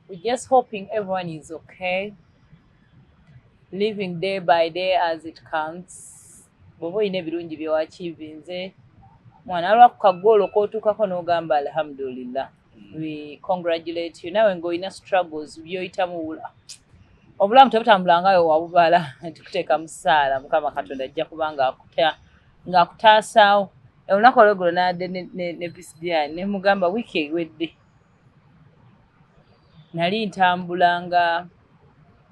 We just hoping everyone is okay. Living day by day as it comes. Bobo ine birungi byo achieve nze. Mwana alwa kukagolo ko tukako no gamba alhamdulillah. Mm. We congratulate you. Nawe ngo ina struggles byo itamu ula. Obulamu tabutambula ngayo wabubala tukuteka msala mukama katonda ajja kubanga akuta ngakutasa. Olunaku olweggulo n'adde ne PCDI ne mugamba wiiki ewedde nali ntambula nga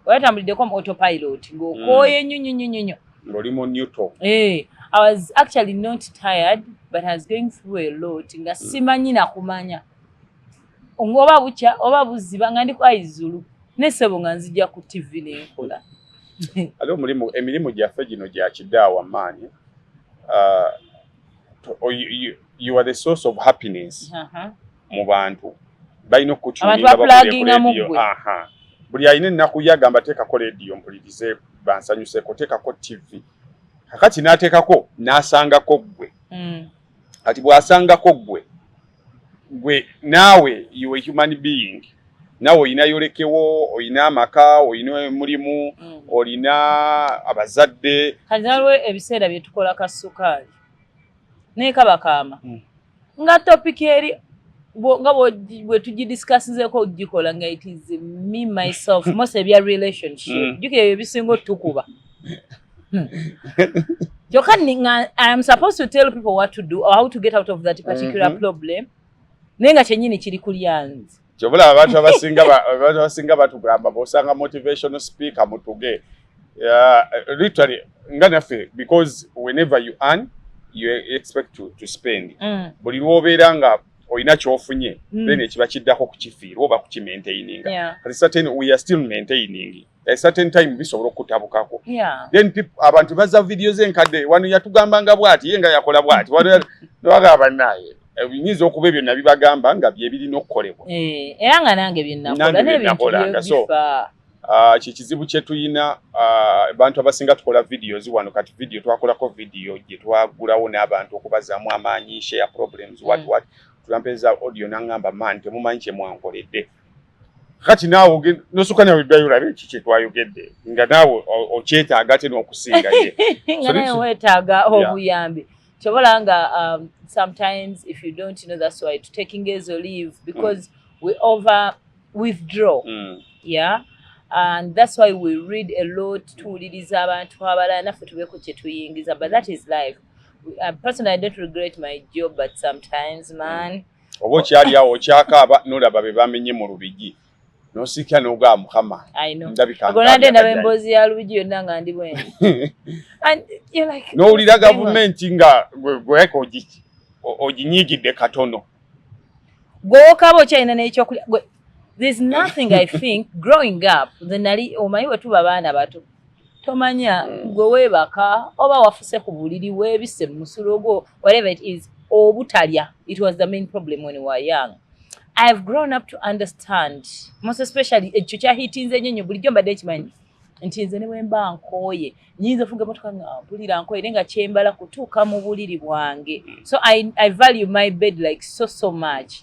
oyatambuliddeko mu autopilot ng'okooye nnyo nnyo nnyo nnyo ng'oli mu newto eh, i was actually not tired but i was going through a lot nga mm. simanyi nakumanya ngoba bukya oba buziba nga ndi ku aizulu nesebo nga nzija ku tv nenkola ate omulimu emirimu gyaffe gino gya kidaawa maanyi uh, oh, you are the source of happiness uh-huh. mu bantu balina okukukyulinga buli alina ennaku ye agamba teekako leediyo mpulirize bansanyuseko teekako tivi kakati n'ateekako n'asangako ggwe hmm. kati bw'asangako ggwe gwe naawe you a human being nawe olina yolekewo olina amaka olina omulimu hmm. olina abazadde kati nalwe ebiseera byetukola ka sukaali naye kabakaama hmm. nga topic eri nga bwetugidiscasizeeko okugikola nga it is me myself most ebya relationship hmm. jukira ebyo ebisinga otukuba hmm. kyoka iam supposed to tell people what to do or how to get out of that particular mm -hmm. problem naye nga kyenyini kiri kulyanzi kyobula abantu abasinga abantu abasinga batugamba bosanga motivational speaker mutuge uh, literally nga naffe because whenever you earn you expect to, to spend mm. buli lwobeera nga olina kyofunye mm. then ekiba kiddako kukifiirwa oba kukimaintaininga yeah. kati certain we are still maintaining a certain time bisobola okutabukako yeah. then people abantu baza video ze nkade wano yatugamba nga bwati yenga yakola bwati wano twagaba naye ebinyiza eh, okuba ebyo nabi bagamba nga bye biri nokolebwa eh era nga nange bye nakola ne bintu so ah kye kizibu kye tuyina ah, abantu abasinga tukola videos wano kati video twakola ko video gye twagulawo ne abantu okubaza mu amanyi share problems what mm. what tulampeza audio nangamba man temumanyi kye mwankoledde kati naawe ogenda nosuka nawe ddayo olabe eki kyetwayogedde nga naawe okyetaaga ate n'okusinga ye nga naye weetaaga obuyambi kyobola nga um, sometimes if you don't know that's why to taking ezo leave because mm. we over withdraw mm. yeah and that's why we read a lot tuwuliriza abantu abalala naffe tubeeko kyetuyingiza but that is life uh, personally i don't regret my job but sometimes man mm. oba okyali awo okyakaaba nolaba be bamenye mu lubigi nosikira nogaa mukama ndabikagonade ndaba emboozi ya lubigi yonna nga ndi bwendi nowulira gavumenti nga gweka oginyigidde katono gwowokaaba okyalina nekyokulya there's nothing i think growing up nze nali omanyi bwetuba baana bato tomanya gwe webaka oba wafuse ku buliri webise mu musulo gwo whatever it is obutalya it was the main problem when we were young i have grown up to understand most especially ekyo kyahitinze nnyo nnyo bulijjo mbadde nkimanyi nti nze ne bwemba nkooye nyinza ofuga emotoka nga mpulira nkooye naye nga kyembala kutuuka mu buliri bwange so I, i value my bed like so so much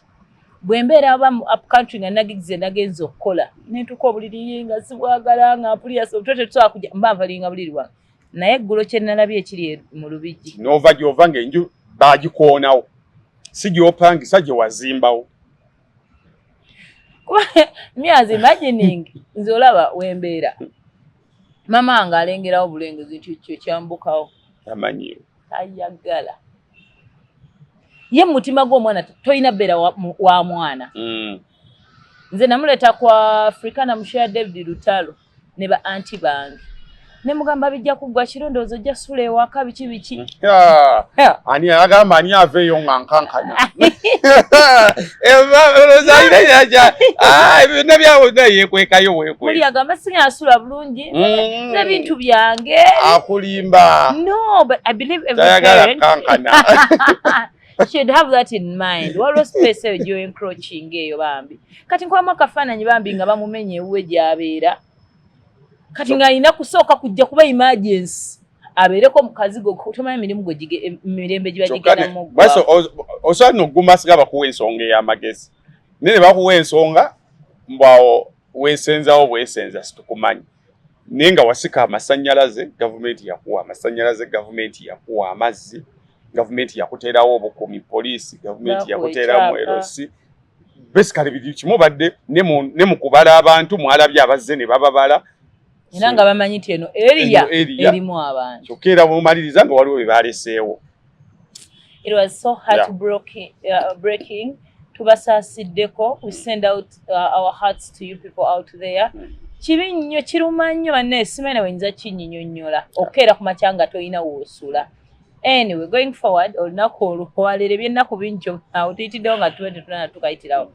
bwembeera aba mu up country nga nagigize nagenza okukola nentuka obuliri nga sibwagala nga mpulira sobuto tetusobola kuja mba nvalinga buliri wange naye eggulo kyenalabye ekiri e, mu lubijji nova gyova nga enju bagikoonawo si gyopangisa gye wazimbawo myazi imagining nze olaba wembeera mama nga alengerawo bulengezi nti kyo kyambukawo amanyiwo ayagala ye mutima gw'omwana tolina beera wa mwana mm. nze namuleeta kwa afrikana musheya david lutalo ne ba anti bange ne mugamba bijja kuggwa kiro ndowooza ojja sula ewaka biki biki ani agamba ani aveeyo nga nkankana ebintu byabona yekwekayo wekwe muli agamba singa asula bulungi mm. nebintu byange akulimba no but i believe every parent kankana should have that in mind waliwo space eyo gyoencroaching eyo bambi kati nkubamu akafaananyi bambi nga bamumenya ewuwe gyabeera kati nga alina kusooka kujja kuba emergency abeereko mukazi gwe tomanya mirimu gwe mirembe giba gigendamu osobola noguma siga bakuwa ensonga ey'amagezi naye ne bakuwa ensonga mbwawo wesenzawo bwesenza situkumanyi naye nga wasika amasanyalaze gavumenti yakuwa amasanyalaze gavumenti yakuwa amazzi gavumenti yakuteerawo obukumi poliisi gavumenti yakuteeramu erosi basically biri kimu badde ne mu kubala abantu mwalabye abazze ne bababala era nga bamanyi nti eno eriya erimu abantu kyokka era bwomaliriza nga waliwo bye baleseewo It was so heartbreaking. Yeah. Uh, breaking. Tubasasiddeko. We send out uh, our hearts to you people out there. Mm. Kibi nnyo kiruma nnyo banne simene wenza kinyinyonyola okukeera ku makya nga tolina woosula anyway going forward olunaku olwo walere byennaku bingi awo tuyitiddewo nga tuba tetunana tukayitirawo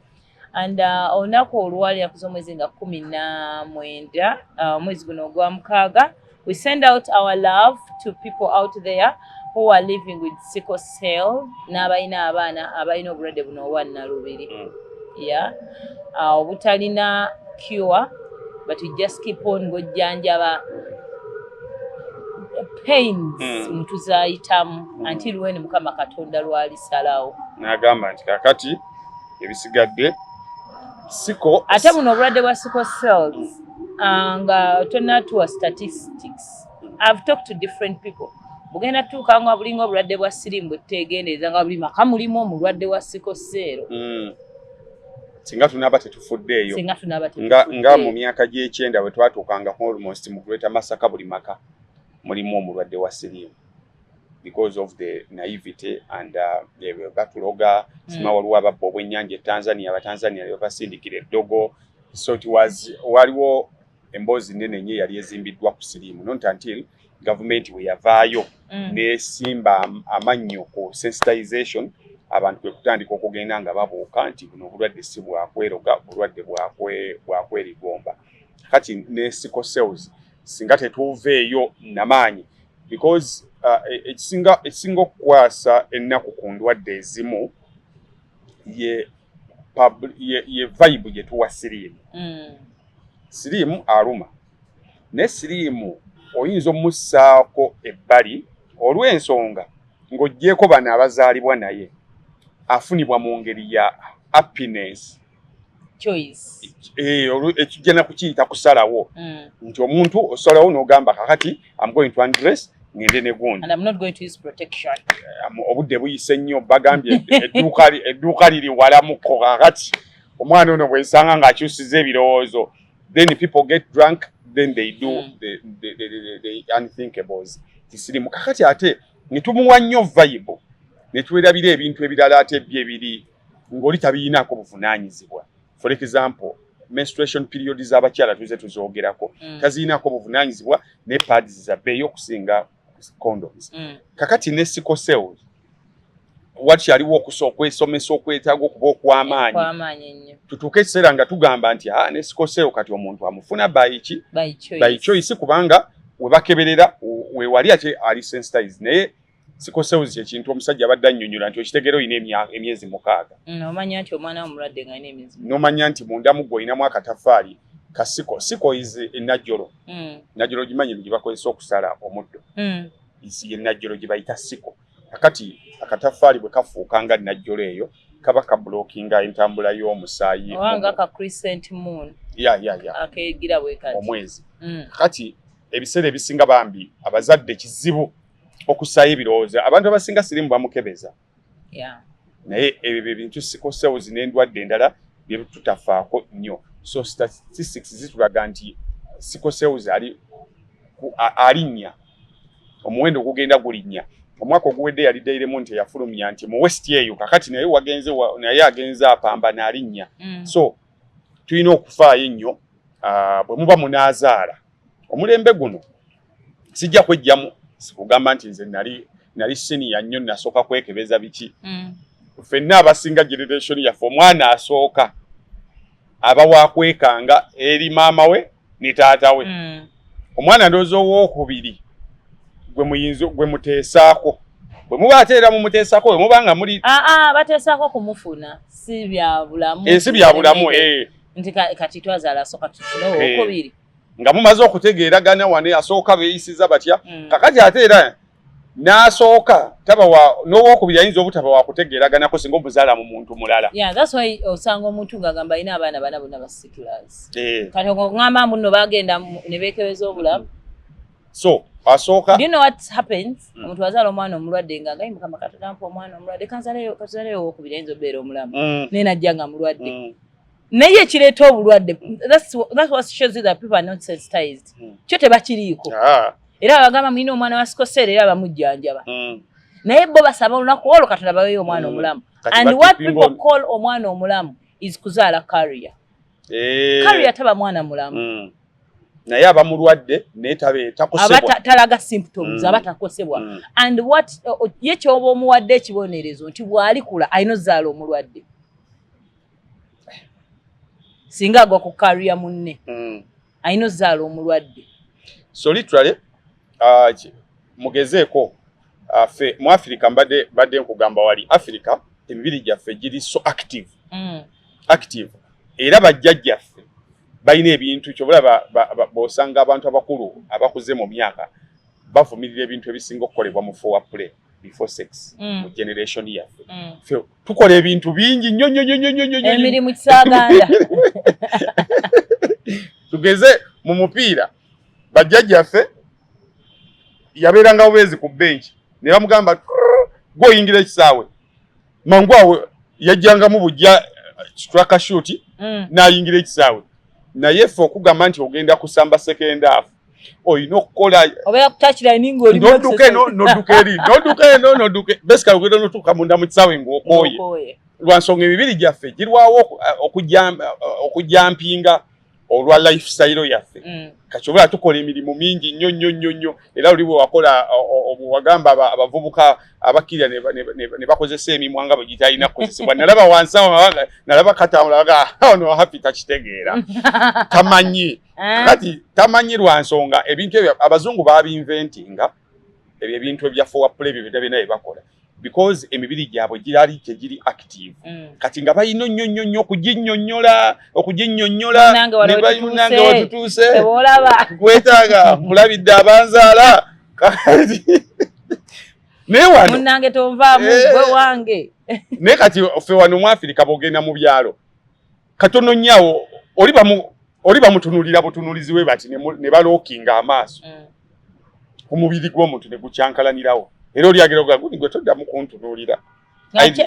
and uh, olunaku uh, oluwali enaku z'omwezi nga kumi na mwenda uh, omwezi uh, guno ogwa mukaaga we send out our love to people out there who are living with sickle cell n'abalina abaana abalina obulwadde buno obwa nnalubiri mm. ya uh, obutalina cure but we just keep on ng'ojjanjaba pains mm. mutuzayitamu mm. until when mukama katonda lwalisalawo nagamba nti kakati ebisigadde siko ate buno obulwadde bwa siko cells ah, nga tonatuwa statistics i've talked to different people bugenda tuuka nga bulinga obulwadde bwa sirimu bwetutegendereza nga buli maka mulimu omulwadde wa siko seero hmm. singa tunaba tetufuddeeyo nga mu myaka gy'ekyenda bwe twatuukanga almost mu kuleta masaka buli maka mulimu omulwadde wa sirimu because of the naivete and uh, batuloga mm. sima waliwo ababba obwennyanja etanzania abatanzania nebabasindikira eddogo so it was waliwo emboozi nene nye yali ezimbiddwa ku siriimu not until gavumenti we yavaayo mm. nesimba amannyo ku sensitization abantu kwe kutandika okugenda nga babuuka nti buno obulwadde si bwakweroga obulwadde bwakwerigomba kati ne sickle cells singa tetuuveeyo namaanyi because uh, e, ekisinga uh, ekisinga okukwasa ennaku ku ndwadde ezimu ye ye, ye vibe gye tuwa siriimu mm. siriimu aluma naye siriimu oyinza omussaako ebbali olw'ensonga ng'oggyeeko bano abazaalibwa naye afunibwa mu ngeri ya happiness eh, ekijja nakukiyita kusalawo mm. nti omuntu osalawo nogamba kakati am going to undress ngende ne gundi obudde buyise nnyo bagambye edduuka liri walamuko kakati omwana ono bwensanga ng'akyusiza ebirowoozo then people get drunk then they do mm. the, the, the, the, the unthinkables kisirimu kakati ate netumuwa nnyo vayibu netuwerabira ebintu ebirala ate bye biri ng'oli tabiyinaako buvunaanyizibwa for example menstruation period z'abakyala tuze tuzoogerako mm. taziyinaako buvunaanyizibwa ne pads zabbeeyi okusinga condoms mm. kakati ne sikoseoli wakyaliwo okusa okwesomesa okwetaaga okuba okw'amaanyi tutuuke ekiseera nga tugamba nti a ah, ne sikoseewo kati omuntu amufuna bayiki bayicoyisi kubanga webakeberera wewali ate ali sensitize naye siko sewuzi kyekintu omusajja abadde annyonnyola nti okitegeera olina emyezi mukaaga mm, omanya nti omwana womulwadde nga alina emyezi nomanya nti mundamu gwe olinamu akatafaali ka siko siko is enajjolo mm. najjolo gimanyi gye bakozesa okusala omuddo mm. isi enajjolo gye bayita siko kakati akatafaali bwe kafuuka nga najjolo eyo kaba kabulokinga entambula y'omusaayi nga ka crescent moon ya ya ya akegira bwe kati omwezi kati ebiseera ebisinga bambi abazadde kizibu okusaayo ebirowoozo abantu abasinga sirimu bamukebeza naye ebyo byebintu sikosewuzi n'endwadde endala byetutafaako nnyo so statistics zitulaga nti sikosewuzi ali alinnya omuwendo gugenda gulinnya omwaka oguwedde yali dairemu nti eyafulumya nti mu west eyo kakati naye wagenze naye agenze apamba naalinnya mm. so tulina okufaayo ennyo ah, bwe muba munaazaala omulembe guno sijja kwejjamu sikugamba nti nze nali nali siniya nnyo nasooka kwekebeza biki mm. fenna abasinga generation yaffe omwana asooka aba wakwekanga eri maama we ne taata we mm. omwana ndowooza owokubiri gwe muyinza gwe muteesaako bwe muba ate era mumuteesako bwe muba nga muli aa ah, ah, bateesako kumufuna si byabulamu ensi byabulamu eh. nti kati twazaala soka tufune eh. owokubiri nga mumaze okutegeeragana wane asooka beeyisiza batya mm. kakati ate era n'asooka taba wa n'owokubiri ayinza obutaba wakutegeeraganako singa omuzaala mu muntu mulala osanga omuntu ng'agamba alina abaana bana bona basikilas eh. kati oŋamba muno bagenda ne beekebeza obulamu so asooka you know what happens mm. omuntu azaala omwana omulwadde nga ngayi mukama katonda mpa omwana omulwadde kanzaleyo kanzaleyo owokubiri ayinza obeera omulamu mm. naye najja nga mulwadde mm. naye ekireeta obulwadde hmm. kyo tebakiriiko ah. era abagamba mulina omwana wa sikoseera era abamujjanjaba hmm. naye bo basaba olunaku olwo katonda baweyo omwana hmm. omulamu and what people call omwana omulamu is kuzaala karia eh. karia taba mwana mulamu naye aba mulwadde naye talaga symptoms aba takosebwa and what ye kyoba omuwadde ekibonerezo nti bwalikula ayina ozaala omulwadde singa agwa ku kariya munne mm. alina ozaala omulwadde so literally uh, mugezeeko uh, fe mu afirika mbadde badde nkugamba wali afirika emibiri gyaffe giri so active mm. active era bajjajjaffe balina ebintu kyobalaba bosanga abantu abakulu abakuze mu myaka bavumirira ebintu ebisinga okukolebwa mu fowa play before sex mm. mu generation yaffe mm. fe tukola ebintu bingi nnyo nnyo nnyo nnyo nnyo emirimu kisaganda tugeze mu mupiira bajjajjaffe yabeeranga bubeezi ku benki ne bamugamba gwoyingira ekisaawe mangu awo yajjangamu bujja strakashuti mm. nayingira ekisaawe naye ffe okugamba nti ogenda kusamba sekendaafu olina okukola noduka eno noduka eri noduka eno noduka basically ogenda notuuka munda mu kisaawe ngaokooye lwansonga emibiri gyaffe girwawo okujjampinga uh, olwa life style yaffe mm. kati obula tukola emirimu mingi nnyo nnyo nnyo nnyo era oli bwewakola wagamba abavubuka abakkirira ne bakozesa emimwa nga bwegitalina kukozesebwa nalaba wansi awo nalaba katambula aga ah, ono happy takitegeera tamanyi eh? kati tamanyi lwa nsonga ebintu ebyo abazungu babinventinga ebyo ebintu ebya forward play ebyo byonna byonna byebakola because emibiri gyabwe girali gyegiri active mm. kati nga balina nnyo nnyo nnyo okuginyonyola okuginyonyola nebalinange watutuuse gwetaaga mulabidde abanzaala kati naye wano munange tonvaamu eh. gwe wange naye kati ffe wano mu afirika bogenda mu byalo katono nyawo oli bamu oli bamutunulira butunulizi we bati ne balokinga amaaso mm. omubiri gw'omuntu ne gukyankalanirawo era oli agera ogaa guni gwe toddamu kuntunuulira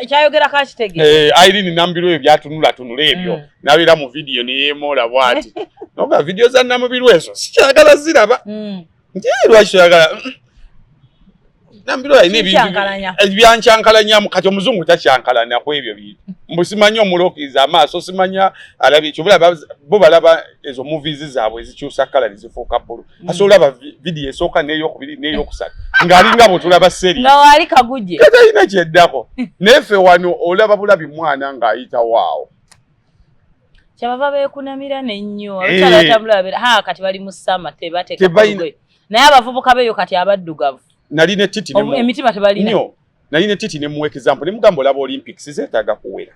kyayogera kakitege eh, airini nambirwa ebyo byatunula tunula ebyo mm. nabeera mu vidiyo neyeemoola bwati noga vidiyo za namubirwa ezo sikyagala ziraba mm. Njee lwaki toyagala mm, mm. nambiro alina ebyancankalanyamu eh, kati omuzungu takyankalanya ku ebyo bintu mbu simanyi omulokiza amaaso simanya alabye kyobulaba bo balaba ezo movies zaabwe ezikyusa kala nezifuuka bbulu mm. ase olaba vidiyo esooka neyokubiri neyokusatu ng'alinga bwetulaba seri ngawaali kaguje katalina kyeddako naye fe wano olaba bulabi mwana ng'ayitawo awo kyabava beekunamira nennyo eh. abakyala batambula babera ha kati bali mu sama tebateekalugoye naye abavubuka beeyo kati abaddugavu nali ne titi emitima tebalina nali ne titi ne mu example ne mugamba olaba olympics zeetaaga kuwera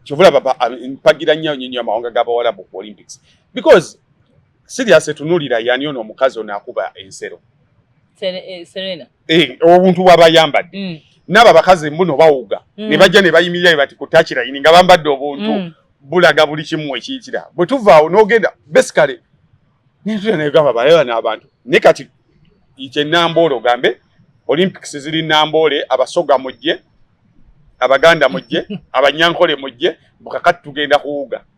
kyovulaba mpagira nnyo nyonyo amawanga g'abawalabu ku olympics because Serious tunulira yani ono omukazi ono akuba ensero. Eh, Serena. Eh, obuntu bwabayambadde. Mm. Naba bakazi mbuno bawuga. Mm. Ne bajja ne bayimirira bati kutachira yini nga bambadde obuntu. Mm. Bulaga buli kimu ekiyitira. Bwe tuva onogenda basically nintu ne gaba bayo na abantu. Ne kati iche nambolo gambe Olympics ziri nambole abasoga mujje abaganda mujje abanyankole mujje bukakati tugenda kuwuga.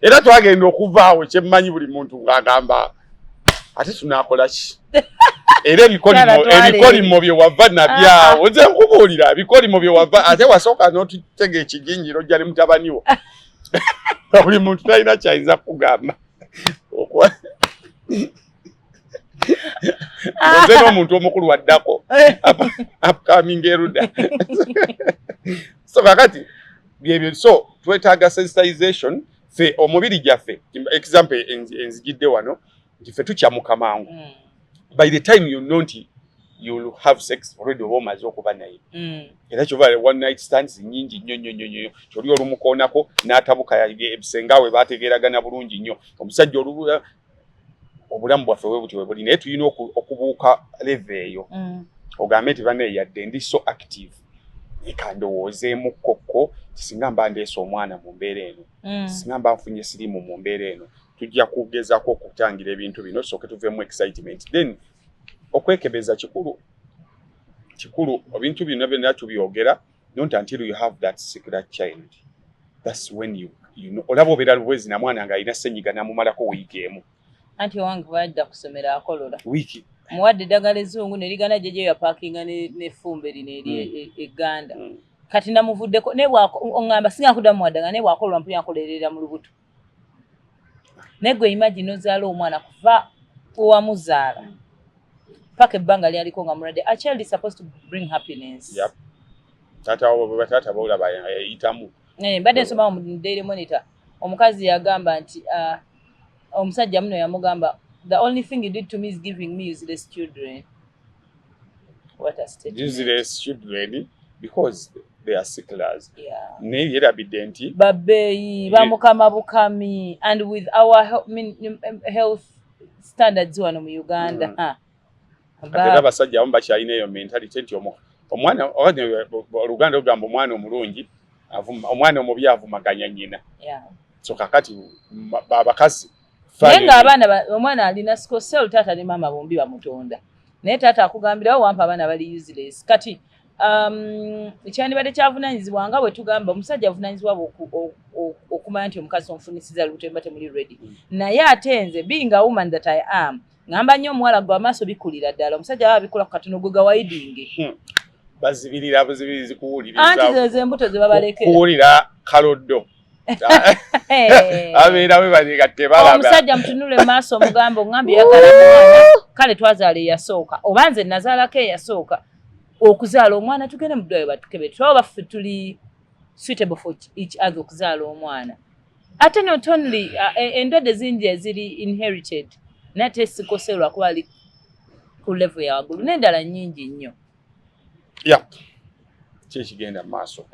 era twagenda okuvaawo kyemmanyi buli muntu ng'agamba ate tunaakola ki era ebikolimo bye wava nabyawo nze nkubuulira ebikolimo bye wava ate wasooka n'otutega ekiginjiro jjali mutabaniwo buli muntu talina kyayinza kugamba nze n'omuntu omukulu waddako eh. upcoming eruda so kakati byebyo so twetaaga sensitization fe omubiri gyaffe example enzijidde wano nti fe tukyamuka mangu mm. by the time you know nti you'll have sex already oba omaze okuba naye mm. era kyova one night stands nyingi nnyo nnyo nnyo nnyo kyoli olumukoonako n'atabuka ebisenga we baategeeragana bulungi nnyo omusajja olubu eh, obulamu bwaffe bwe butyo bwe buli naye tulina okubuuka leve eyo mm. ogambe nti bane yadde ndi so active leka ndowoozeemu kkokko singa mba ndeesa omwana mu mbeera eno mm. singa mba nfunye sirimu mu mbeera eno tujja kugezako okutangira ebintu bino sooke tuveemu excitement then okwekebeza kikulu kikulu ebintu bino byonna tubyogera don't until you have that secret child that's when you you know olaba obeera lubwezi na mwana nga alina senyiga namumalako wiiki emu anti owange bwajja kusomera akolola wiiki muwadde eddagala ezzungu nerigana jejo yapakinga nefumbe lino eri mm. e, e, egganda mm. kati namuvuddeko nebwaoamba singa nkudamu muwadde nga nebwakolwa mpuyankolerera mu lubuto naye gwe imagine ozaala omwana kuva owamuzaala paka ebbanga lyaliko nga mulwadde a child is supposed to bring happiness yep. tata wabo baba tata bawula bayitamu eh, mbadde nsoma mu daily monitor omukazi yagamba nti uh, omusajja muno yamugamba the only thing you did to me is giving me useless children useless children because they are sicklers yeah. naye yerabidde nti babeeyi bamukama bukami and with our health standards wano mu uganda mm. Ah. atera abasajja abamu bakyalina eyo mentality nti omwana oluganda lugamba omwana omulungi omwana omubi avumaganya nyina so kakati abakazi naye nga abaana omwana alina sikosel taata ne maama bombi bamutonda naye taata akugambirawo wampa abaana bali useless kati um, ekyandibadde kyavunanyizibwa nga bwetugamba omusajja avunanyizibwa okumanya nti omukazi omufunisiza lutemba temuli ready mm. naye ate nze being a woman that i am ngamba nnyo omuwala gwe amaaso bikulira ddala omusajja aba abikula ku katono gwe gawayidinge hmm. bazibirira buzibirizi kuwuliriza anti zezo embuto zebabalekera kuwulira kaloddo abeera we banyega tebalaba omusajja mutunule maaso omugambo ngambye yagala mwana kale twazaala eyasooka oba nze nazaalako eyasooka okuzaala omwana tugende mudwayo batukebe tuba baffe tuli suitable for each other okuzaala omwana ate not only uh, e, endwadde zingi eziri inherited naye te sikose lwakuba ali ku level ya waggulu n'endala nnyingi nnyo yeah kyekigenda maaso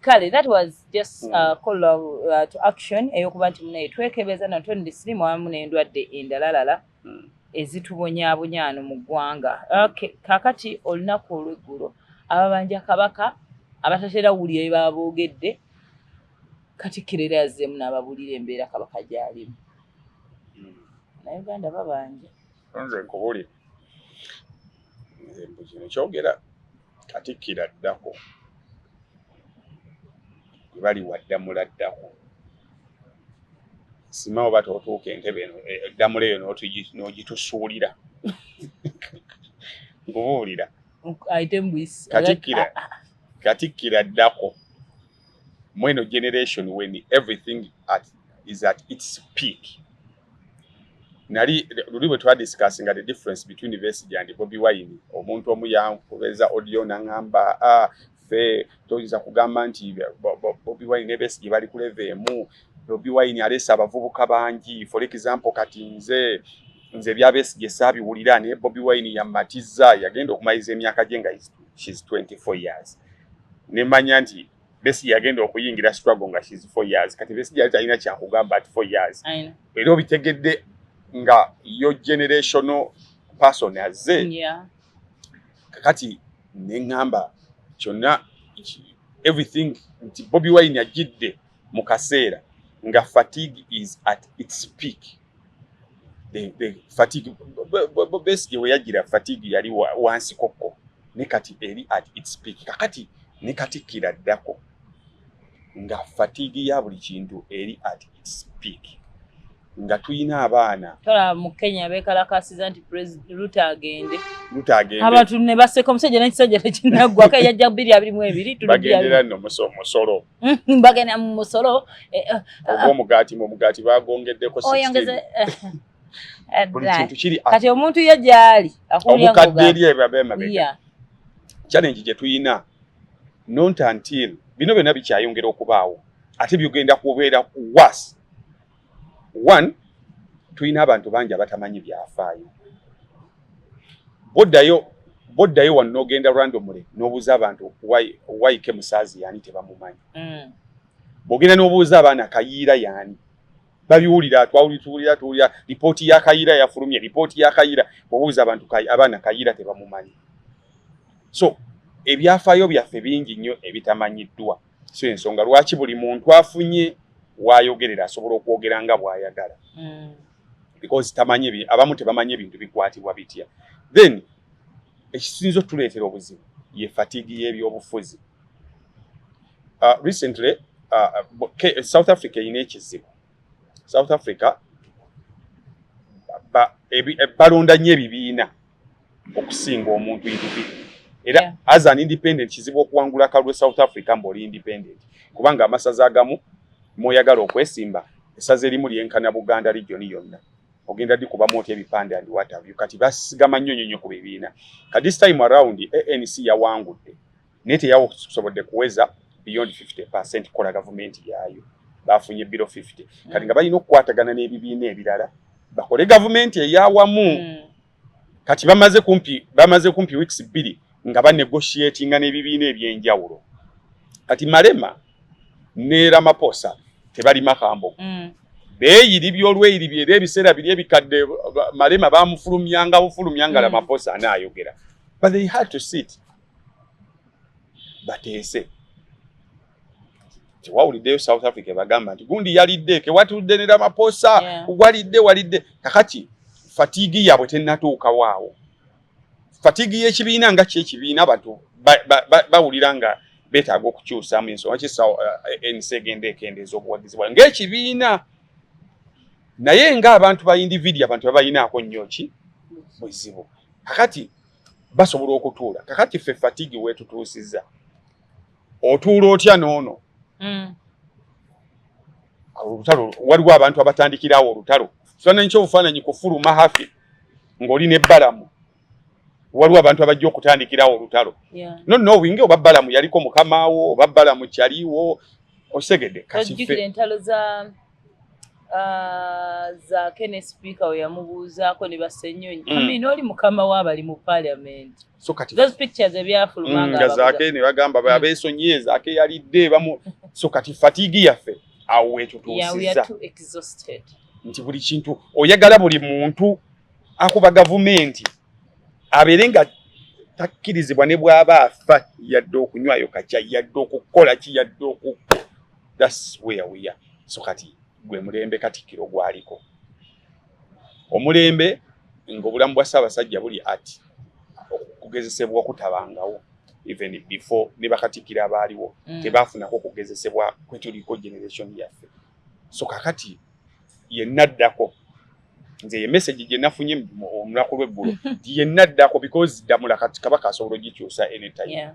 kale that was just hmm. uh, call uh, to action eyokuba nti munaye twekebeza natwe ndi sirimu awamu nendwadde endalalala hmm. ezitubonyaabonyaano mu ggwanga okay. kakati olunaku olweggulo ababanja kabaka abatatera wulira ebaba boogedde katikkiro era yazzeemu n'ababuulira embeera kabaka gyalimu hmm. naye uganda babanja nze nkubulire nze mbu kino kyogera katikkiro addako gwe bali waddamula addako sima oba totuuka entebe eno eh, ddamula eyo n'ogitusuulira nkubuulira katikkiro addako mweno generation when everything at, is at its peak nali luli bwe twadiscussinga the difference between Besigye and Bobi Wine omuntu omu yankubeza audio nangamba ah, fe toyinza kugamba nti Bobi Wine ne Besigye bali kuleva emu Bobi Wine alesa abavubuka bangi for example kati nze nze bya Besigye saabiwulira naye Bobi Wine yammatiza yagenda okumaliriza emyaka gye nga isitu she's 24 years nemanya nti besi yagenda okuyingira struggle nga she's 4 years kati besi yali talina kyakugamba at 4 years era obitegedde nga yo generational person azze yeah. kakati neŋamba kyonna everything nti bobi wine ajidde mu kaseera nga fatigue is at its peak the, the fatigue besigye weyagira fatigue yali wansi kokko ne kati eri at its peak kakati ne katikkira ddako nga fatigue ya buli kintu eri at its peak nga tulina abaana tola mu kenya bekalakasiza nti luta agende luta agende abantu ne baseka omusajja n'ekisajja tekinaggwako eyajja bbiri abiri mu ebiri tulugendera nno musolo Mm-hmm. bagenda mu musolo eh, eh, eh, omugaati mu omugaati bagongeddeko kati omuntu ye gyali omukadde eri ebabeemabega challenge gye tulina nontantil bino byonna bikyayongera okubaawo ate byogenda kubeera was one tulina abantu bangi abatamanyi byafaayo boddayo boddayo wano nogenda randomly nobuuza abantu waike musaazi yaani tebamumanyi mm. bwogenda nobuuza abaana kayiira yaani babiwulira twawulituwulira tuwulira lipooti ya kayiira yafulumye lipooti ya kayiira bwobuuza abantu abaana kayiira tebamumanyi so ebyafaayo byaffe bingi nnyo ebitamanyiddwa e so ensonga lwaki buli muntu afunye wayogerera asobola okwogera nga bwayagala mm. because tamanyi abamu tebamanyi ebintu bikwatibwa bitya then ekisinza otuleetera obuzibu ye fatigi y'ebyobufuzi uh, recently uh, uh, south africa erina ekizibu south africa balonda nnyo ebibiina okusinga omuntu individ era yeah. as an independent kizibu okuwangula kalwe south africa mbaoli independent kubanga amasaza agamu mwoyagala okwesimba esaza erimu lyenkana buganda regioni yonna ogenda di kubamu otya ebipande and whatever kati basigama nnyo nnyo nnyo ku bibiina ka this time around anc yawangudde naye teyasobodde kuweza beyond 50 percent kola gavumenti yaayo bafunye biro 50 mm. kati nga balina okukwatagana n'ebibiina ebirala bakole gavumenti eyawamu mm. kati bamaze kumpi bamaze kumpi weeks bbiri nga banegotiatinga n'ebibiina ebyenjawulo kati malema ne ramaposa tebali makambo mm. beeyiribi olweyiribi era ebiseera biri ebikadde malema bamufulumyanga bufulumyanga mm. ramaposa anaayogera but they had to sit bateese tewawuliddeyo south africa bagamba nti gundi yalidde kewatudde ne ramaposa walidde walidde kakati fatigi yabwe tenatuukawo awo fatigi y'ekibiina nga ki ekibiina abantu bawulira nga betaaga okukyusamu ensonga ki eh, nc egenda ekendeeza obuwagizi bwayo ng'ekibiina naye ng'abantu ba individia abantu babalinaako nnyo ki buzibu kakati basobola okutuula kakati ffe fatigi wetutuusiza otuula otya noono mm. olutalo waliwo abantu abatandikirawo olutalo kifaananyi kyobufaananyi kufuluma hafi ng'oli ne balamu waliwo abantu abajja okutandikirawo olutalo yeah. no knowing oba balamu yaliko mukamaawo oba balamu kyaliwo osegedde kasife Ah, zaake ne sipiika we yamubuuzaako ne basenyonyi mm. amin oli mukama we abali mu parliament those pictures ebyafuluma mm, nga zaake ne bagamba mm. abeesonyiye zaake yalidde bamu so kati fatigue yaffe awo wetutuusiza nti buli kintu oyagala buli muntu akuba gavumenti abeere nga takkirizibwa ne bw'aba afa yadde okunywayo kakya yadde okukola ki yadde oku that's where we are so kati gwe mulembe katikiro gwaliko omulembe ng'obulamu bwa ssaabasajja buli at okugezesebwa okutabangawo even before ne bakatikira abaaliwo mm. tebaafunako okugezesebwa kwetuliko generation yaffe so kakati yenna addako nze ye message gye nafunye omulaku lw'eggulo yenna addako because ddamula kati kabaka asobola ogikyusa anytime yeah.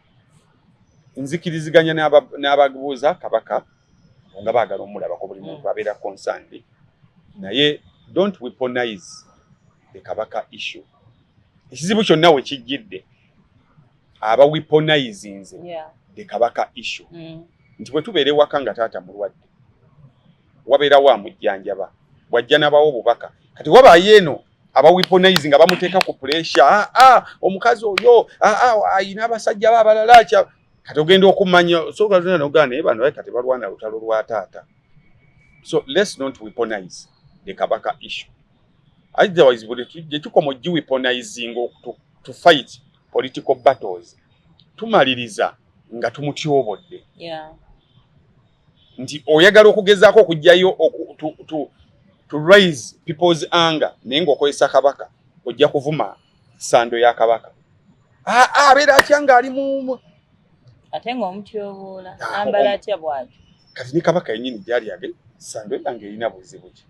nzikiriziganya n'ababuuza kabaka nga baagala omulabako buli muntu mm. abeera concerned naye don't weaponize the kabaka issue ekizibu kyonna we kijjidde aba weaponizinze the kabaka issue mm. nti bwe tubeera ewaka nga taata mulwadde wabeerawo amujjanjaba bwajja nabawo obubaka kati wabaayo eno abaweaponizing abamuteeka ku puresha ah, ah, omukazi oyo ah, ayina abasajja ba abalala kya kati ogenda okumanya sogaogaa naye bano kati balwana lutalo lwa taata so lets not weaponize the kabaka issue otherwise buli gyetukoma ogiweaponizing to fight political battles tumaliriza nga tumutyobodde yeah. nti oyagala okugezaako okugyayo to raise people's anger naye ngaokozesa kabaka ojja kuvuma sando ya kabaka ah, ah, abeera atya ngaali mu ate nga omutyobuula ah, ambala atya bwati kati ni kabaka yenyini gyali age sando yange erina buzibu ki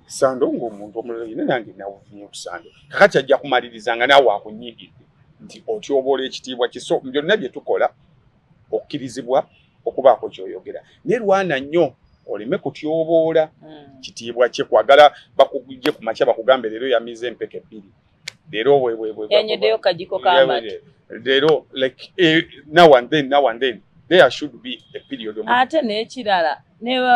sando ngaomuntu omulala yina nange nawunye kusando kakati ajja kumaliriza nga naawe akunyigidde nti otyoboola ekitiibwa kiso byonna bye tukola okukirizibwa okubaako kyoyogera naye lwana nnyo oleme kutyoboola hmm. kitiibwa kye kwagala bakugye ku makya bakugambe leero yamize empeke ebbiri leero weweweenyedeyo kajiko kamati leero like eh, now and then now and then there should be a period ate n'ekirala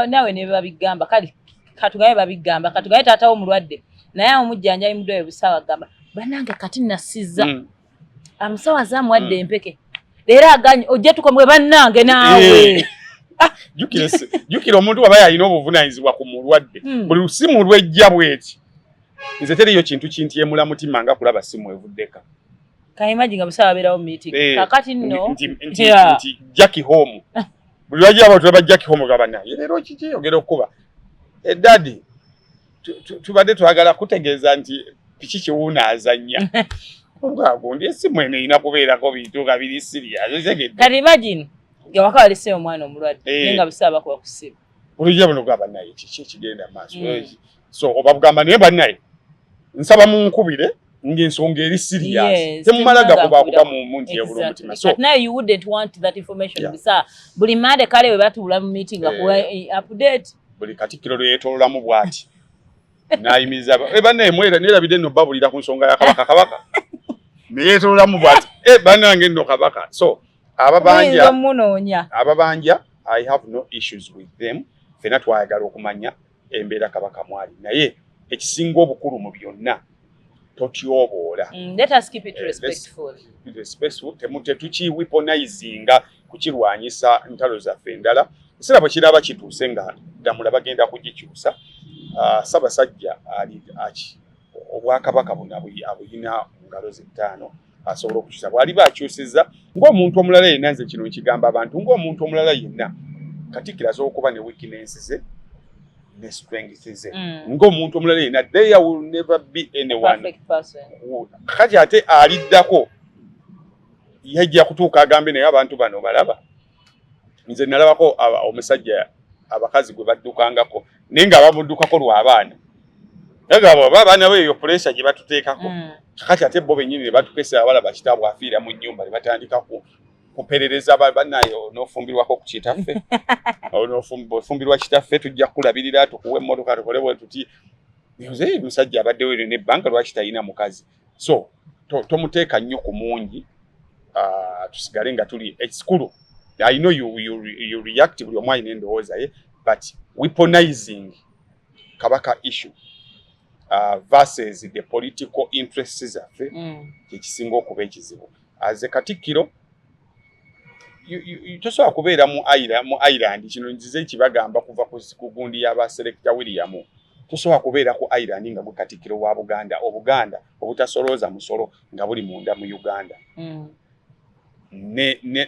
nawe nebabigamba kale katugaye babigamba katugaye taatawo omulwadde naye omujjanjayi mudwayo busawa gamba banange kati nasiza mm. amusawo azaamu wadde empeke leero aganye ojja tukomwe bannange naawe eh. ah. jukira omuntu waba yalina obuvunanyizibwa ku mulwadde hmm. buli lusimu lwejja bweti nze teriyo kintu kintyemula mutima nga kulaba simu evuddeka kaimaji nga busawa abeerawo meeting eh, kakati nno nti jacki home buli lwajiraba tulaba jacki home gaba naye leero kiki ogera okukuba edadi eh, tubadde twagala kutegeeza nti piki kiwuuna azannya omukago ndi esimu eno erina kubeerako bintu nga biri siriyakati imagine ngawaka walese omwana omulwadde eh. naye nga bisaba bakuba kusiba olujja buno gwa banaye kiki ekigenda maaso hmm. so obabugamba naye banaye nsaba munkubire ng'ensonga eri serious temumala gakuba kuba mu muntu yabula omutima so now you wouldn't want that information yeah. bisa buli mande kale we batuula mu meeting yeah. akuwa eh, update buli katikkiro lwe yeetoololamu bw'ati n'ayimiriza eh, bannaye mwera neerabidde nno babulira ku nsonga ya kabaka kabaka ne yeetoololamu bw'ati eh, bannange nno kabaka so ababanja ababanja i have no issues with them fena twayagala okumanya embeera kabaka mwali naye ekisinga obukulu mu byonna totyoboola mm, eh, tetukiwiponizinga kukirwanyisa ntalo zaffe endala ekiseera bwe kiraba kituuse nga ddamula bagenda kugikyusa ah, sabasajja ali aki obwakabaka buno abuyina mu ngalo zettaano asobola okukyusa bwaliba akyusizza ng'omuntu omulala yenna nze kino nkigamba abantu ng'omuntu omulala yenna katikkiro asobola okuba ne wikinensi ze ne strength ze mm. ng'omuntu omulala yenna there will never be anyone kati ate aliddako yajja kutuuka agambe naye abantu bano balaba nze nalabako omusajja abakazi gwe baddukangako naye nga bamuddukako lwabaana nagamba oba abaana bo eyo puleesa gye batuteekako mm. kakati ate bo bennyini ne batukesa abalaba kitaabwe afiira mu nnyumba ne batandika kuperereza banaye onofumbirwako ku kitaffe ofumbirwa kitaffe tujja kukulabirira tukuwa emmotoka tukole bwe tuti nze musajja abaddewo eryo nebbanga lwaki talina mukazi so tomuteeka to nnyo ku mungi uh, tusigale nga tuli ekikulu i know you, you, you react buli omu alina endowooza ye but weaponizing kabaka issue uh, versus the political interests zaffe mm. kyekisinga okuba ekizibu aze katikkiro tosobola kubeera mu mu ireland kino nzize kibagamba kuva ku gundi y'abaselekita william tosobola kubeera ku ireland nga gwe katikkiro wa buganda obuganda obutasolooza musolo nga buli munda mu uganda mm.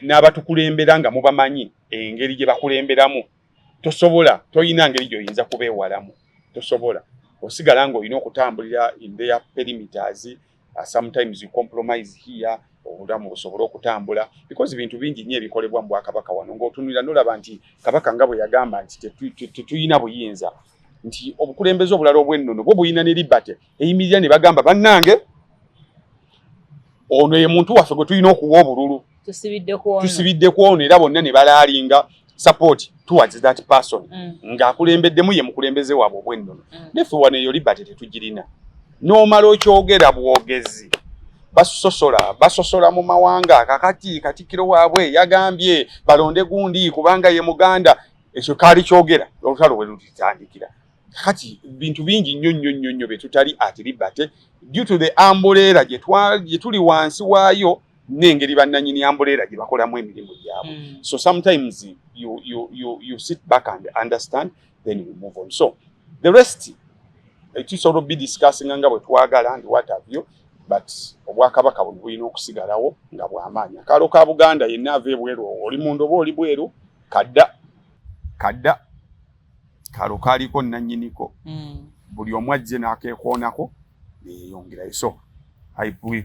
n'abatukulembera nga mubamanyi engeri gye bakulemberamu tosobola tolina ngeri gyoyinza kubeewalamu tosobola osigala ng'olina okutambulira in their perimeters Uh, sometimes you compromise here obulamu busobole okutambula because bintu bingi nnyo ebikolebwa mu bwakabaka wano ng'otunulira nolaba nti kabaka nga bwe yagamba nti tetulina buyinza nti obukulembeze obulala obwennono bwo bulina ne libate eyimirira ne bagamba bannange ono ye muntu waffe gwe tulina okuwa obululu tusibidde ku ono era bonna ne balaalinga support towards that person mm. ng'akulembeddemu ye mukulembeze waabwe obwennono mm. neffe wano eyo liberty tetugirina n'omala okyogera bwogezi basosola basosola mu mawanga kakati katikiro waabwe yagambye balonde gundi kubanga ye muganda ekyo kaali kyogera olutalo we lutitandikira kati bintu bingi nnyo nnyo nnyo nnyo byetutali atiribate due to the ambuleera gyetuli wansi waayo n'engeri bannanyini ambuleera gye bakolamu emirimu gyabwe mm. so sometimes you, you, you, you sit back and understand then you move on so the rest eh, tusobola obi discussing nga bwe twagala ndi what have you but obwakabaka buno bulina okusigalawo nga bwamaanyi akaalo ka buganda yenna ava ebweru oli munda oba oli bweru kadda kadda kalo kaliko nanyiniko mm. buli omu ajje nakekoonako neyeyongerayo so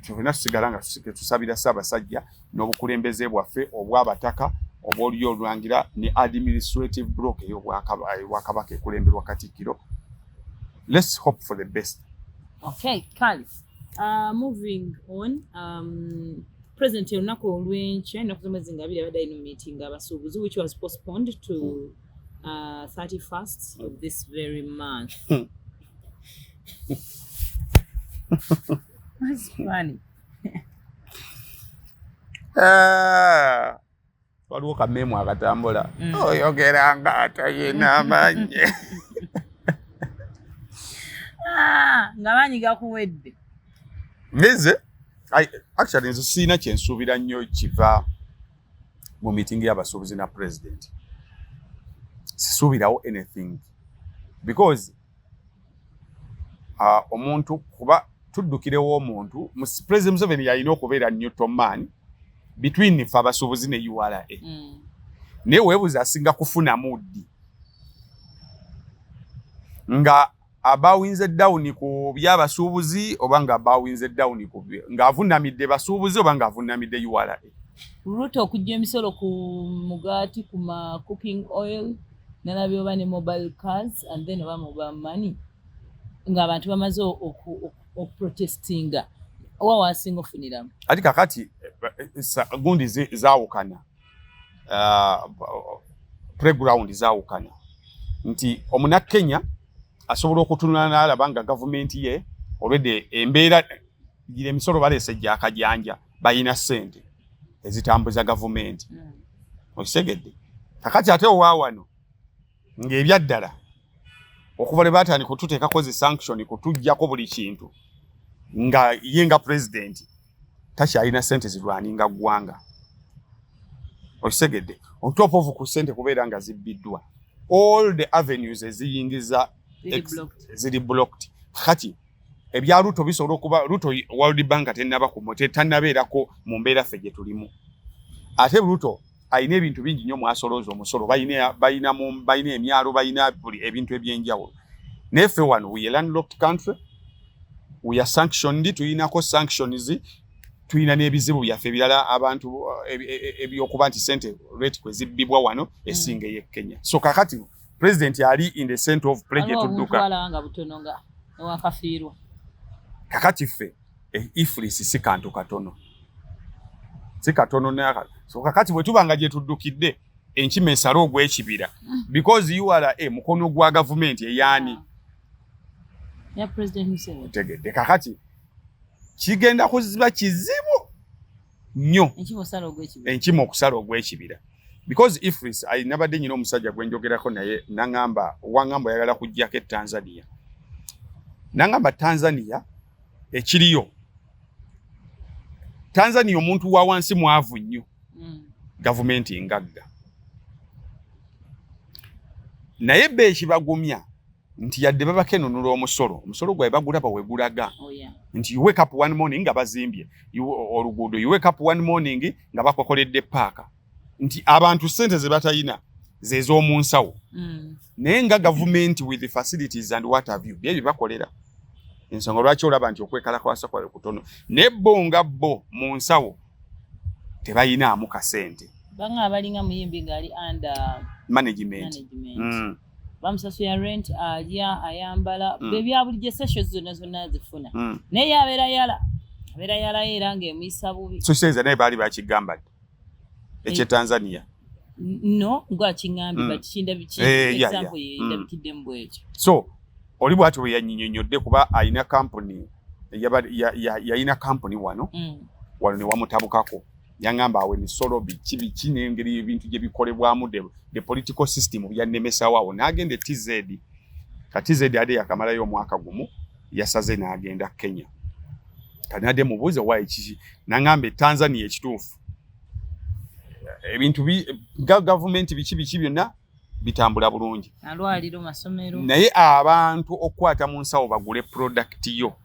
tulina tusigala nga tusabira ssaabasajja n'obukulembeze bwaffe obwabataka obwoliyo olulangira ne administrative block eyobwakabaka ekulemberwa katikkiro let's hope for the best okay kali uh, moving on um, president olunaku olwenkya enaku zomwezi nga abiri abadde alina meeting abasuubuzi which was postponed to mm. uh, 31st of this very month. What's funny? Ah, waliwo kamemu akatambula mm. oyogera nga atayina amanyi ah, nga maanyi gakuwedde nze actually nze siina kyensuubira nnyo kiva mu meeting y'abasuubuzi na president sisuubirawo anything because uh, omuntu kuba tuddukirewo omuntu president museveni yalina okubeera newton man between fe abasuubuzi ne ura mm. naye webuuza asinga kufunamu ddi nga abawinze down ku byabasuubuzi oba nga abawinze down ku ng'avunamidde basuubuzi oba ng'avunamidde ura ruto okujja emisolo ku mugaati ku ma cooking oil nalabye oba ne mobile cars and then oba mobile money ng'abantu bamaze okuprotestinga owa wasinga ofuniramu ati kakati eh, eh, gundi zawukana uh, playground zawukana nti omunakenya asobola okutunula nalaba nga gavumenti ye olwedde embeera gira emisolo baleese jakajanja balina sente ezitambuza gavumenti hmm. okitegedde kakati ate owawano ng'ebyaddala okuva lwe baatandika otuteekako zi sanction kutuggyako buli kintu nga ye nga pulezidenti takyalina sente zirwaninga ggwanga okitegedde ontopoovu ku sente kubeera nga zibbiddwa all the avenues eziyingiza ziri blocked kati ebya ruto bisobola okuba ruto world bank tenaba kumu tetanabeerako mu mbeera ffe gye tulimu ate ruto alina ebintu bingi nnyo mwasolooza omusolo balina emyalo balina buli ebintu ebyenjawulo naye ffe wano we landlocked country we are sanctioned tulinako sanctions tulina n'ebizibu byaffe ebirala abantu eh, eh, eh, ebyokuba nti sente rate kwe zibbibwa wano mm. esinga ey'e kenya so kakati president ali in the center of plege tudduka kakati ffe E, ifulisi si kantu katono, si katono naka. So kakati bwe tuba nga gye tuddukidde enkima esala ogw'ekibira mm. because ura e, mukono gwa gavumenti eyaani otegedde kakati kigenda kuziba kizibu nnyo enkima okusala ogw'ekibira because ifris nabadde nyina omusajja gwenjogerako naye nangamba wangamba oyagala kujjako etanzania nangamba tanzania ekiriyo tanzania omuntu wa wansi mwavu nnyo mm. gavumenti ngagga naye be ekibagumya nti yadde babakenunula omusolo omusolo gwabe bagulaba wegulaga oh, nti you wake up one morning nga bazimbye oluguudo you wake up one morning nga bakokoledde paaka nti abantu sente zebatayina zez'omu nsawo mm. naye nga gavumenti with facilities and what have you bye bibakolera ensonga lwaki olaba nti okwekalakwasa kwabe kutono naye bo nga bo mu nsawo tebayinaamu kasente banga abalinga muyimbi ngaali under management, management. Mm. bamusasula rent alya ayambala mm. bebyabulijjo sesho zonna zonna azifuna mm. naye yabeera yala abeera yalayo era ngaemuyisa bubi sokitegeza naye baali bakigamba ddi ekyetanzania eh, no ngwakiŋambi mm. batikindabikexample eh, yendabikiddemu mm. bwekyo so oli bwati bwe yanyinyonyodde kuba alina kampuni yalina kampuni wano mm. wano newamutabukako yangamba awo emisolo biki biki n'engeri ebintu gye bikolebwamu the political system byannemesawo awo n'agenda e tz kati tz ade yakamalayo omwaka gumu yasaze n'agenda kenya kati nadde mubuuze wayi kiki nangamba e tanzania ekituufu ebintu gavumenti biki biki byonna bitambula bulungi naye abantu okukwata mu nsawo bagule product yo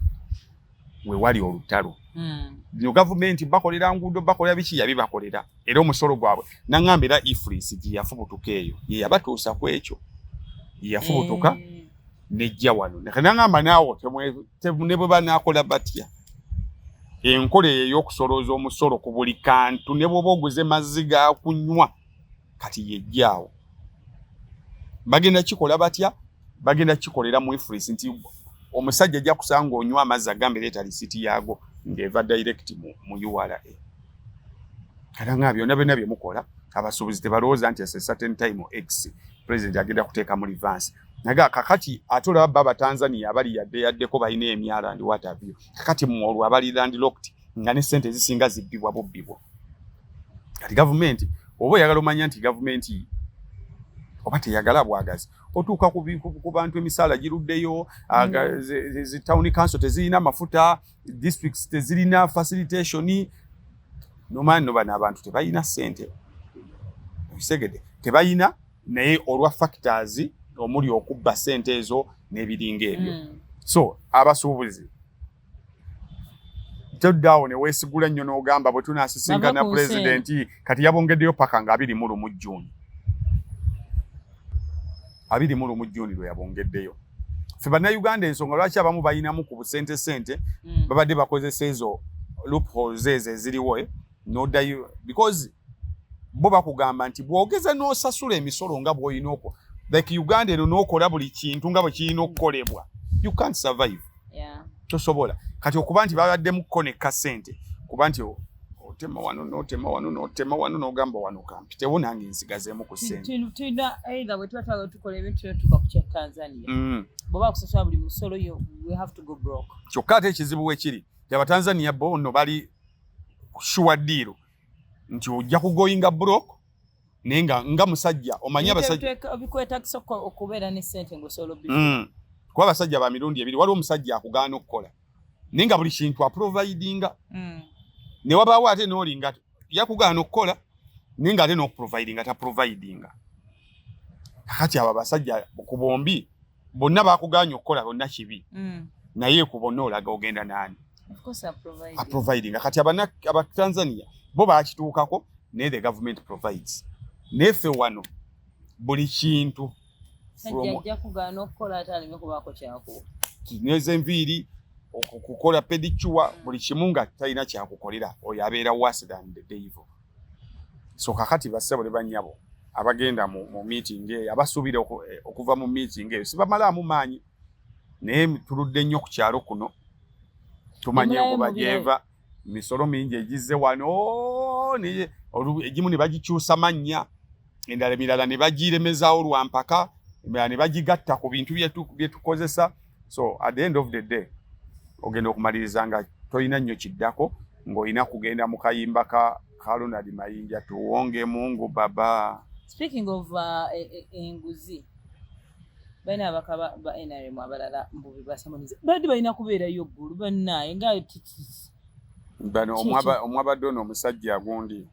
we wali olutalo hmm. bino mm. gavumenti bakolera nguudo bakolera biki yabi bakolera era omusolo gwabwe nangamba era ifris gye yafubutuka eyo ye yabatuusa ku ekyo ye yafubutuka mm. Eh. nejja wano nangamba naawo ne bwe banaakola batya enkola eyo ey'okusolooza omusolo ku buli kantu ne bwoba oguze mazzi ga kunywa kati yejjaawo bagenda kikola batya bagenda kikolera mu ifris nti omusajja ajja kusanga onywa amazzi agambe leeta lisiti yaago ng'eva direct mu, mu ura kata nga byonna byonna bye mukola abasuubuzi tebalowooza nti ese certain time x president agenda kuteeka mu livansi nage kakati ate olaba baba tanzania abali yadde yaddeko balina emyala ndi watabyo kakati mwolwo abali landlocked nga ne sente ezisinga zibbibwa bubbibwa kati gavumenti oba oyagala omanya nti gavumenti oba teyagala bwagazi otuuka ku bantu emisaala giruddeyo mm. zi town council tezirina mafuta districts tezirina facilitation nomani no bano abantu tebalina sente ekisegede tebalina naye olwa factors omuli okubba sente ezo n'ebiringa ebyo mm. so abasuubuzi toddawo ne weesigula nnyo n'ogamba bwe tunaasisinkana pulezidenti kati yabongeddeyo paka nga abiri mu lumu jjuuni abiri mu lumu jjuuni lwe yabongeddeyo ffe bannayuganda ensonga lwaki abamu balinamu ku busente sente mm. babadde bakozesa ezo loopholes ezo eziriwo eh? nodayo because bo bakugamba nti bwogeza nosasula emisolo nga bwoyina okwo like uganda eno nokola buli kintu nga bwekirina okukolebwa you can't survive yeah. tosobola kati okuba nti babaddemu ko nekka sente kuba nti otema wano notema wano notema wano nogamba wano kampi tewo nange nsigazemu ku senteyina either bwetuba twagala tukola ebintu yo tuka kukya tanzania mm. bweba kusasula buli musolo yo we have to go broke kyokka ate ekizibu wekiri abatanzania bo no bali shuwa deal nti ojja kugoinga broke naye nga nga musajja omanyi abasajjabikwetagisa okubeera ne sente ngaosobola obi mm. kuba abasajja ba mirundi ebiri waliwo omusajja akugaana okukola naye nga buli kintu aprovidinga mm. ne wabaawo ate noolinga yakugaana okukola naye nga ate nokuprovidinga taprovidinga kakati abo abasajja ku bombi bonna bakuganya okukola bonna kibi mm. naye ku bonna olaga ogenda nani aprovidinga kati abana aba tanzania bo bakituukako naye the government provides naye ffe wano buli kintu kinyweza enviiri okukola pedicuwa buli kimu nga talina kyakukolera oyo abeera worse than the devil so kakati bassebo ne bannyabo abagenda mu, mu meeting eyo abasuubira eh, okuva mu meeting eyo sibamalaamu maanyi naye tuludde nnyo ku kyalo kuno tumanye okuba gyeva misolo mingi egizze wano egimu ne bagikyusa mannya endala emirala ne bagiremezaawo lwa mpaka emirala ne bagigatta ku bintu bye tukozesa so at the end of the day ogenda okumaliriza nga tolina nnyo kiddako ng'olina kugenda mu kayimba ka ka Ronald Mayinja tuwonge mungu baba speaking of uh, e, e, enguzi balina abaka ba nrm abalala mbubi basamaniza badi balina kubeerayo ggulu bannaye nga bano omwabadde ono omusajja agundi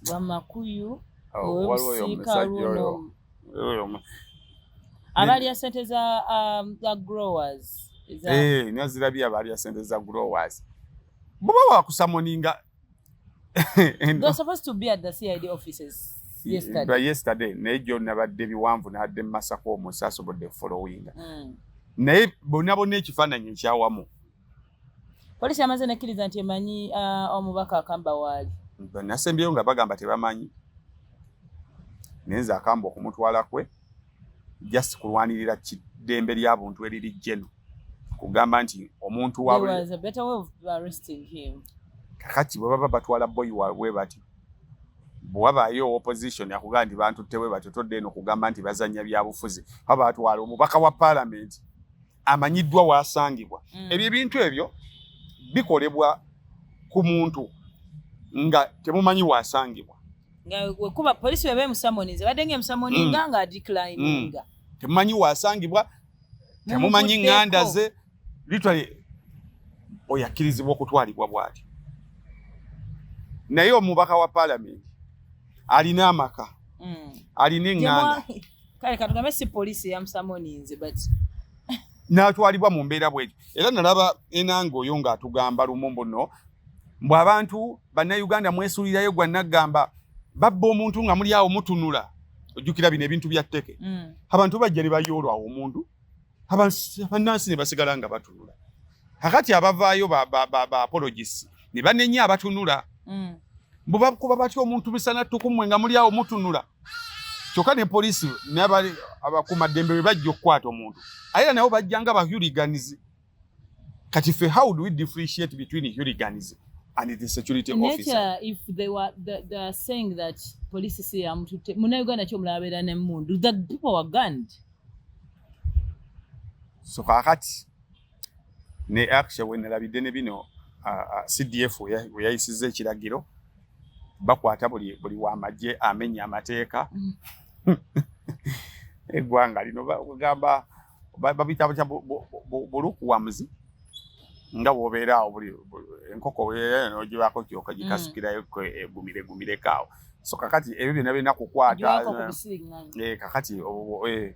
bamakuyu abalya sente za um, growers eh, nazirabye abalya sente za growers buba wakusamoninga yesterday naye gyo nabadde biwanvu nadde mumasako omusi asobodde followinga mm. naye bonabona ekifaananyi ekyawamu Poliisi yamaze nekkiriza nti emanyi uh, omubaka akamba waali. Nasembyeyo nga bagamba tebamanyi naye nze akamba okumutwala kwe just kulwanirira kiddembe lya buntu eriri jeno kugamba nti omuntu kakati bwe baba batwala boyi wabwe bati bwewabaayo opposition akugamba nti bantu tewe batyo todde eno kugamba nti bazanya byabufuzi aba batwala omubaka wa palamenti amanyiddwa waasangibwa mm. ebyo ebintu ebyo bikolebwa ku muntu nga temumanyi waasangibwa kuba polisi weba emusamoninze badde nga emusamoninga mm. nga adeclininga mm. temumanyi waasangibwa temumanyi nganda ze litwali oyo akkirizibwa okutwalibwa bwati naye omubaka wa palamenti alina amaka mm. alina enganda kale katugambe si poliisi eyamusamoninze but n'atwalibwa mu mbeera bwetyo era nalaba enanga oyo ng'atugamba lumu mbuno mbu abantu bannayuganda mwesuulirayo gwa naggamba babba omuntu nga muli awo mutunula ojjukira bino ebintu bya tteke mm. abantu bajja ne bayoolwa awo omuntu abannansi ne basigala nga batunula akati abavaayo baapologisi ne banenya abatunula mm. mbu bakuba batya omuntu misana ttukumwe nga muli awo mutunula kyokka ne poliisi nabali abakuuma ddembe bwe bajja okukwata omuntu aye era nabo bajja nga bahuliganizi kati fe how do we differentiate between huliganizi and the security officer. If they were, they, they are saying that police is here, I'm to take, Muna Uganda Chom Labera and Mundu, that people were gunned. So, Kakati, ne aksha wenalabidde ne bino cdf weyayisiza ekiragiro bakwata buli buli wamagye amenya amateeka eggwanga lino bagamba babita butya bulukuwamuzi nga wobeera awo buli enkoko nogibaako kyoka gikasukirayo mm. egumire gumireko awo so kakati ebyo byona birina kukwata eh, kakati eh,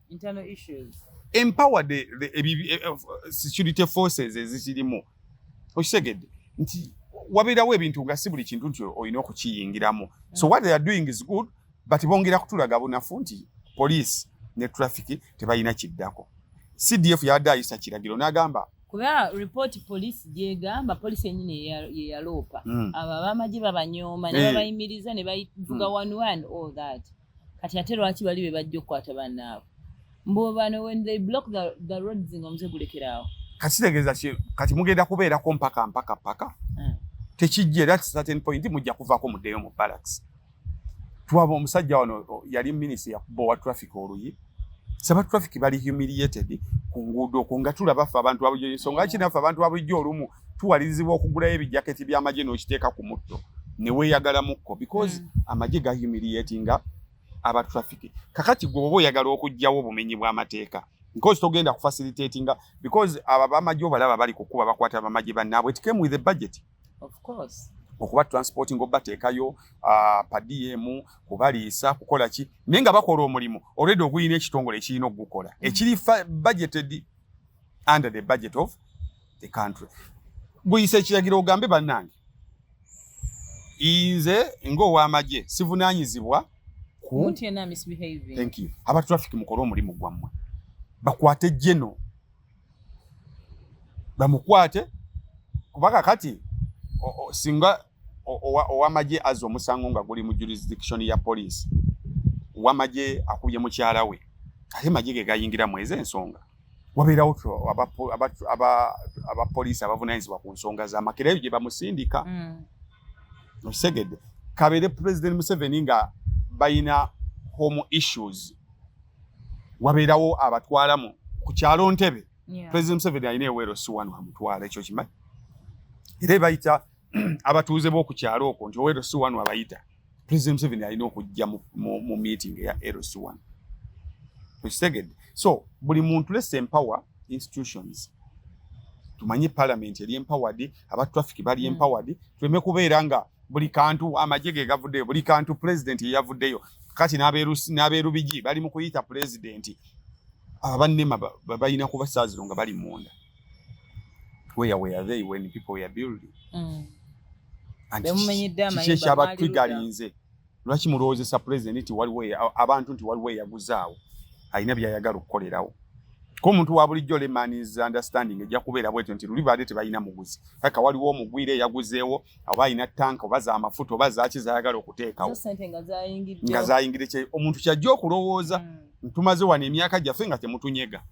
internal issues empower the, the, the, the eh, eh, security forces ezikirimu okitegedde nti wabeerawo ebintu nga si buli kintu nti olina okukiyingiramu so what they are doing is good but bongera kutulaga bunafu nti police ne traffic tebalina kiddako cdf yabadde ayisa kiragiro n'agamba kuba report police gyegamba police enyini yeyaloopa hmm. abo abamagye babanyooma ne eh. babayimiriza ne bavuga hmm. one one all that kati ate lwaki bali be bajja okukwata bannaabwe mbu bano when they block the, the roads nga omuze gulekeraawo kati kitegeeza ki kati mugenda kubeerako mpaka mpaka mpaka hmm. tekijja era certain point mujja kuvaako muddeyo mu barracks twaba omusajja wano yali minisita yakuba owa traffic oluyi saba traffic bali humiliated ku nguudo okwo nga tulaba ffe abantu babulijjo ensonga ki naffe abantu babulijjo olumu tuwalirizibwa okugulayo ebijaketi by'amagye n'okiteeka ku mutto ne weeyagalamukko because mm. amagye ga humiliatinga aba traffic kakati gwe oba oyagala okugyawo obumenyi bw'amateeka because togenda ku facilitatinga because abo abamagye obalaba bali kukuba bakwata bamagye bannaabwe it came with a budget of course okuba transporting obateekayo uh, padiyemu kubaliisa kukola ki naye nga bakola omulimu olwedde ogulina ekitongole ekirina okugukola mm. ekiri budgeted under the budget of the country guyise ekiragiro ogambe bannange inze ng'owamagye sivunaanyizibwa ku thank you aba traffic mukole omulimu gwammwe bakwate jeno bamukwate kubaka kati singa owamagye aza omusango nga guli mu jurisdiction ya poliisi wamagye akubye mukyala we ate magye ge gayingira mwezi ensonga wabeerawo abapoliisi abavunanyizibwa ku nsonga zamakera eyo gye bamusindika mm. okitegedde kabeere pulezidenti museveni nga balina home issues wabeerawo abatwalamu ku kyalo ntebe pulezidenti museveni alina eweero si wano amutwala ekyo kimanyi era ebayita abatuuze b'oku kyalo okwo nti owa LC one abayita President Museveni alina okujja mu, mu, mu meeting eya LC one okitegedde so buli muntu less empower institutions tumanye parliament eri empowered aba traffic bali mm. empowered tuleme kubeera nga buli kantu amagye ge gavuddeyo buli kantu president yeyavuddeyo kati n'abeerubigi bali mu kuyita president abanema balina kubasaaziro nga bali munda where were they when people were building mm. kiki ekyabatwigalinze lwaki mulowoozesa pulezidenti nti waliwo abantu nti waliwo eyaguzaawo alina byayagala okukolerawo ko omuntu wa bulijjo lemanis understanding ejja kubeera bwetyo nti luli baade tebalina muguzi kaka waliwo omugwire eyaguzeewo oba alina tanka oba za mafuta oba zaki zayagala okuteekawo nga zayingidde omuntu kyajja okulowooza mm. ntumaze wano emyaka gyaffe nga temutunyega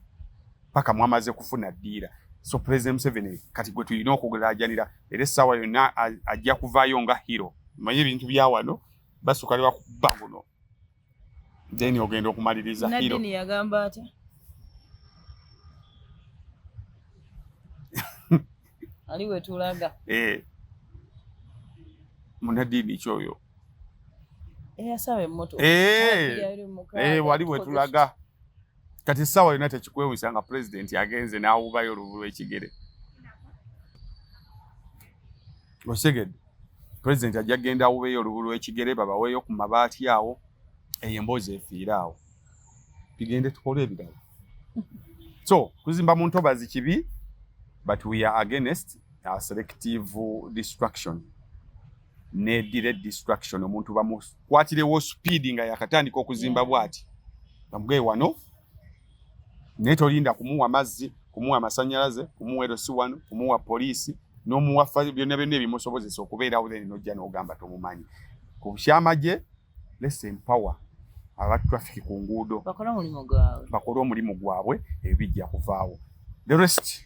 paka mwamaze kufuna dira so president Museveni kati gwe tulina okugulajanira era essaawa yonna ajja kuvaayo nga hero manye ebintu bya wano basuka lewa kuba guno then ogenda okumaliriza hero nadini yagamba ati ali wetulaga eh munadini kyoyo eyasawa emmotoka eh, eh wali wetulaga kati essaawa yonna tekikwewusa nga pulezidenti agenze n'awubayo oluvu lw'ekigere osegedde pulezidenti ajja kugenda awubeyo oluvu lw'ekigere babaweeyo ku mabaati awo eyo emboozi efiire awo tugende tukole ebirala so kuzimba mu ntobazi kibi but we are against uh, selective destruction ne delay destruction omuntu bamukwatirewo speed nga yakatandika okuzimba bwati bamugaye wano naye tolinda kumuwa mazzi kumuwa amasanyalaze kumuwa erosi wano kumuwa poliisi nomuwa byonna byonna ebimusobozesa okubeerawo then nojja nogamba tomumanyi ku kyamagye less empower aba traffic ku nguudo bakole omulimu gwabwe ebijja kuvaawo the rest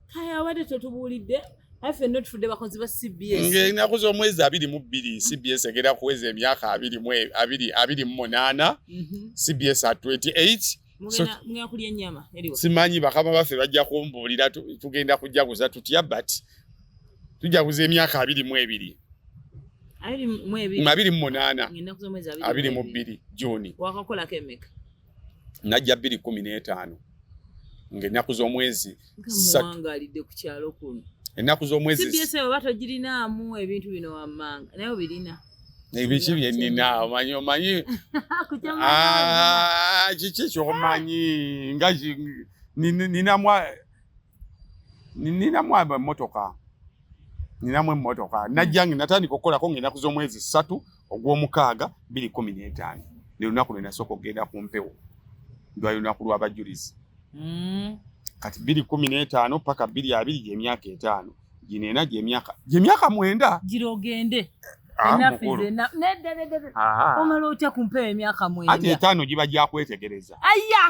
kaya abadde totubuulidde affe no tufudde bakozi ba cbs ng'enaku z'omwezi abiri mu bbiri mm. cbs egenda kuweza emyaka abiri mu e, abiri abiri mu munaana mm-hmm. cbs at 28 simanyi bakama baffe bajja kumbuulira tugenda kujaguza tutya but tujaguza emyaka abiri mu ebiri abiri mu munaana abiri mu bbiri juni wakakolako emeka najja bbiri kumi n'etaano ng'ennaku z'omwezi muwangalidde ku kyalo kuno ennaku z'omwezi oba togirinaamu ebintu bino wammanga naye obirina ebiki byenina omanyi omanyi ah, kiki kyomanyi nga ninamu ninamu emotoka ninamu emotoka najjange natandika okukolako ng'ennaku z'omwezi ssatu ogw'omukaaga bbiri kumi n'etaano ne lunaku lwe nasooka okugenda ku mpewo ndwali lunaku lw'abajulizi hmm. kati bbiri kumi n'etaano paka bbiri abiri gy'emyaka etaano gino ena gy'emyaka gy'emyaka mwenda gira ogende ah, omala otya ku mpewo emyaka mwenda ati etaano giba gyakwetegereza aya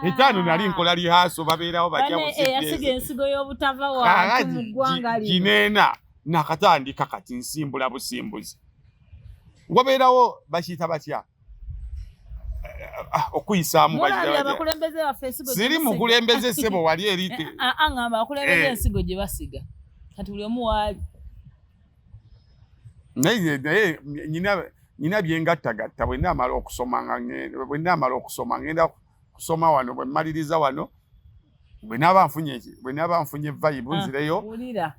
etaano nali nkola lihaaso babeerawo bajja busigeeyasiga ensigo y'obutava wantu mu ggwanga lino gino ena nakatandika kati nsimbula busimbuzi wabeerawo bakiyita batya ah, okuyisaamu siri mukulembeze sebo wali erite eh, ah, ah, ngamba akulembeza eh. ensigo gye basiga kati buli omu waali naye naye nyina nyina byengattagatta bwenaamala okusoma bwenaamala okusoma ngenda kusoma wano bwe mmaliriza wano bwe naaba nfunye bwe naaba nfunye vibe ah, nzireyo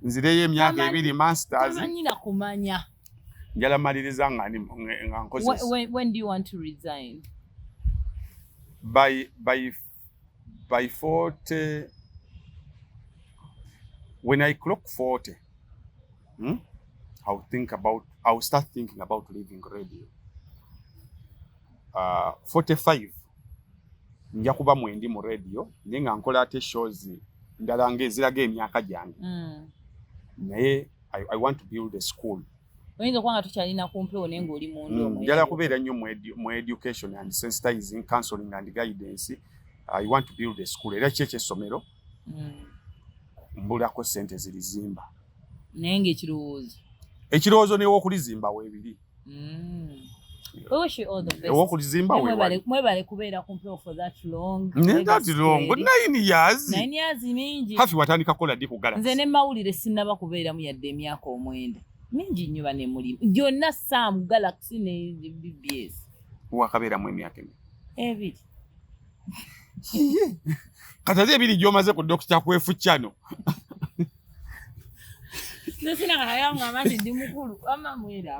nzireyo emyaka ebiri masters tamanyina kumanya njala maliriza nga ndi nga nkoze when, when do you want to resign by by by 40 when i clock 40 hmm? i will think about i will start thinking about leaving radio uh, 45 nja kuba mwendi mu radio naye nga nkola ate shows ndala nga eziraga emyaka gyange mm. naye I, I want to build a school oyinza okuba nga tukyalina ku mpewo naye ngaoli mundu mm, njala kubeera nnyo mu education and sensitizing counseling and guidance i want to build a school era ki ekyessomero mm. mbulako sente zirizimba naye ngaekirowoozo ekirowoozo newokulizimba webiri owokuzimbaweebale kubeera kumpewo for that long naye that long nine years nine years mingi hafi watandika kukola ddi kugala nze ne mawulire sinnaba kubeeramu yadde emyaka omwenda mingi nnyo bane mulimu gyonna sam galaxy ne bbs wakabeeramu emyaka emi ebiri kati ate ebiri gyomaze ku dokita kwefu kyano nze sinakayanga amati ndi mukulu amamwera